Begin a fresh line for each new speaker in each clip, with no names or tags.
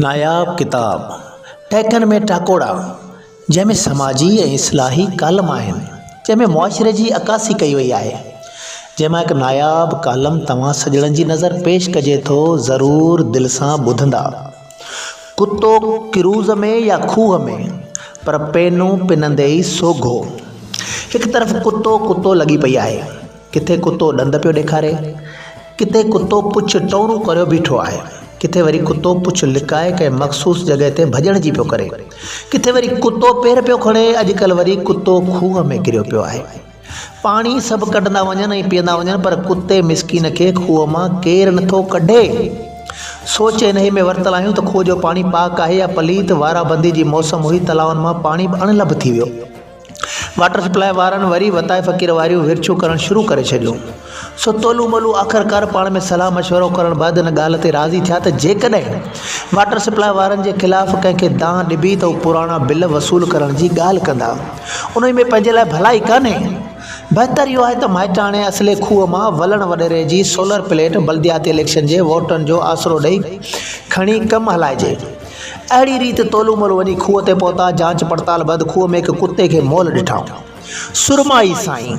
ناياب ڪتاب ٽهڪن ۾ ٽاڪوڙا جنهن ۾ سماجي ۽ اصلاحي ڪالم آهن جنهن ۾ معاشري جي عڪاسي ڪئي وئي آهي جنهن مان هڪ ناياب ڪالم توهان سڄڻن جي نظر پيش ڪجي ٿو ضرور دل سان ٻڌندا ڪتو ڪروز ۾ يا کوهه ۾ پر پينون پنندي ئي سوگهو هڪ طرف ڪتو ڪتو لڳي پئي آهي ڪٿي ڪتو ڏند پيو ڏيکاري، ڪٿي ڪتو پڇ ٽئورون ڪريو بيٺو آهي، ڪٿي وري ڪتو پڇ لڪائي ڪنهن مخصوص جڳهه تي ڀڄڻ جي پيو ڪري، ڪٿي وري ڪتو پير پيو کڻي، اڄڪلهه وري ڪتو کوهه ۾ ڪريو پيو آهي. پاڻي سڀ ڪڍندا وڃن ۽ پيئندا وڃن پر ڪتي مسڪين کي کوهه مان ڪير نٿو ڪڍي. سوچ انهيء ۾ ورتل آهيون ته کوهه جو پاڻي پاڪ آهي يا پليت، وارابندي جي موسم هئي، تلائن مان پاڻي به اڻ لڀ ٿي ويو. واٽر سپلائي وارن وري وتايي فقير واريون ورڇون ڪرڻ شروع ڪري ڇڏيون سو تولو مولو آخرڪار پاڻ ۾ صلاح مشورو ڪرڻ بعد ان ڳالهه تي راضي ٿيا ته جيڪڏهن واٽر سپلائي وارن جي خلاف ڪنهن کي دانهن ڏبي ته هو پراڻا بل وصول ڪرڻ جي ڳالهه ڪندا انهي ۾ پنهنجي لاء ڀلائي ڪانهي بهتر اهو آهي ته مائٽاڻي اصلي کوهه مان ولڻ وڏيري جي سولر پليٽ بلدياتي اليڪشن جي ووٽن جو آسرو ڏئي کڻي ڪم هلائجي اهڙي ريت تولو مولو وڃي کوهه تي پهتا، جانچ پڙتال بعد کوهه ۾ هڪ ڪتي کي مئل ڏٺائون. سرمائي سائين!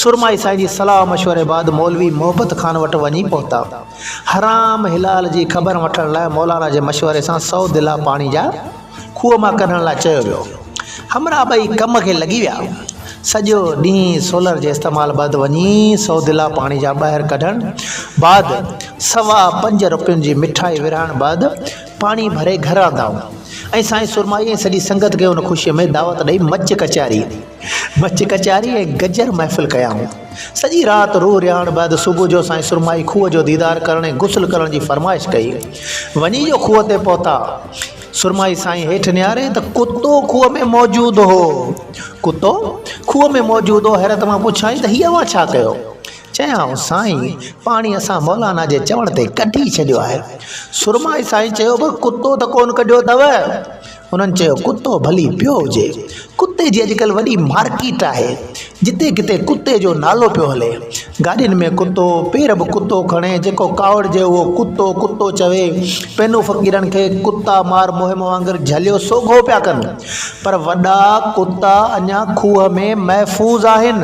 سرمائي سائين جي صلاح مشوري بعد مولوي محبت خان وٽ وڃي پهتا. حرام حلال جي خبر وٺڻ لاء مولانا جي مشوري سان سؤ دلا پاڻي جا کوهه مان ڪڍڻ لاء چيو ويو. همراهه ٻئي ڪم کي لڳي ويا. سڄو ڏينهن سولر جي استعمال بعد وڃي سؤ دلا پاڻي جا ٻاهر ڪڍڻ بعد سوا پنج روپين جي مٺائي ورهائڻ بعد پاڻي ڀري گهر آندا ۽ سائين سرمائي ۽ سڄي سنگت کي ان خوشيء ۾ دعوت ڏئي مچ ڪچهري مچ ڪچهري ۽ گجر محفل ڪيائون. سڄي رات روح رهاڻ بعد صبح جو سائين سرمائي کوهه جو ديدار ڪرڻ ۽ غسل ڪرڻ جي فرمائش ڪئي. وڃي جو کوهه تي پهتا، سرمائي سائين هيٺ نهاريائين ته ڪتو کوهه ۾ موجود هو. ڪتو کوهه ۾ موجود هو، حيرت مان پڇيائين ته هي اوهان ڇا ڪيو؟ چيائون سائين پاڻي اسان مولانا جي چوڻ تي ڪڍي ڇڏيو آهي. سرمائي سائين چيو به ڪتو ته ڪونه ڪڍيو اٿو؟ انهن چيو ڪتو ڀلي پيو هجي. ڪتي جي اڄڪلهه وڏي مارڪيٽ آهي. جتي ڪٿي ڪتي جو نالو پيو هلي. گاڏين ۾ ڪتو، پير به ڪتو کڻي، جيڪو ڪاوڙجي اهو ڪتو ڪتو چوي. پنهون فقيرن کي ڪتا مار مهم وانگر جهليو سوگهو پيا ڪن. پر وڏا ڪتا اڃا کوهه ۾ محفوظ آهن.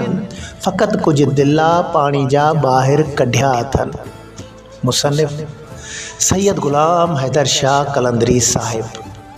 فقط ڪجهه دلا پاڻي جا ٻاهر ڪڍيا اٿن. مصنف سيد غلام حيدر شاهه قلندري صاحب.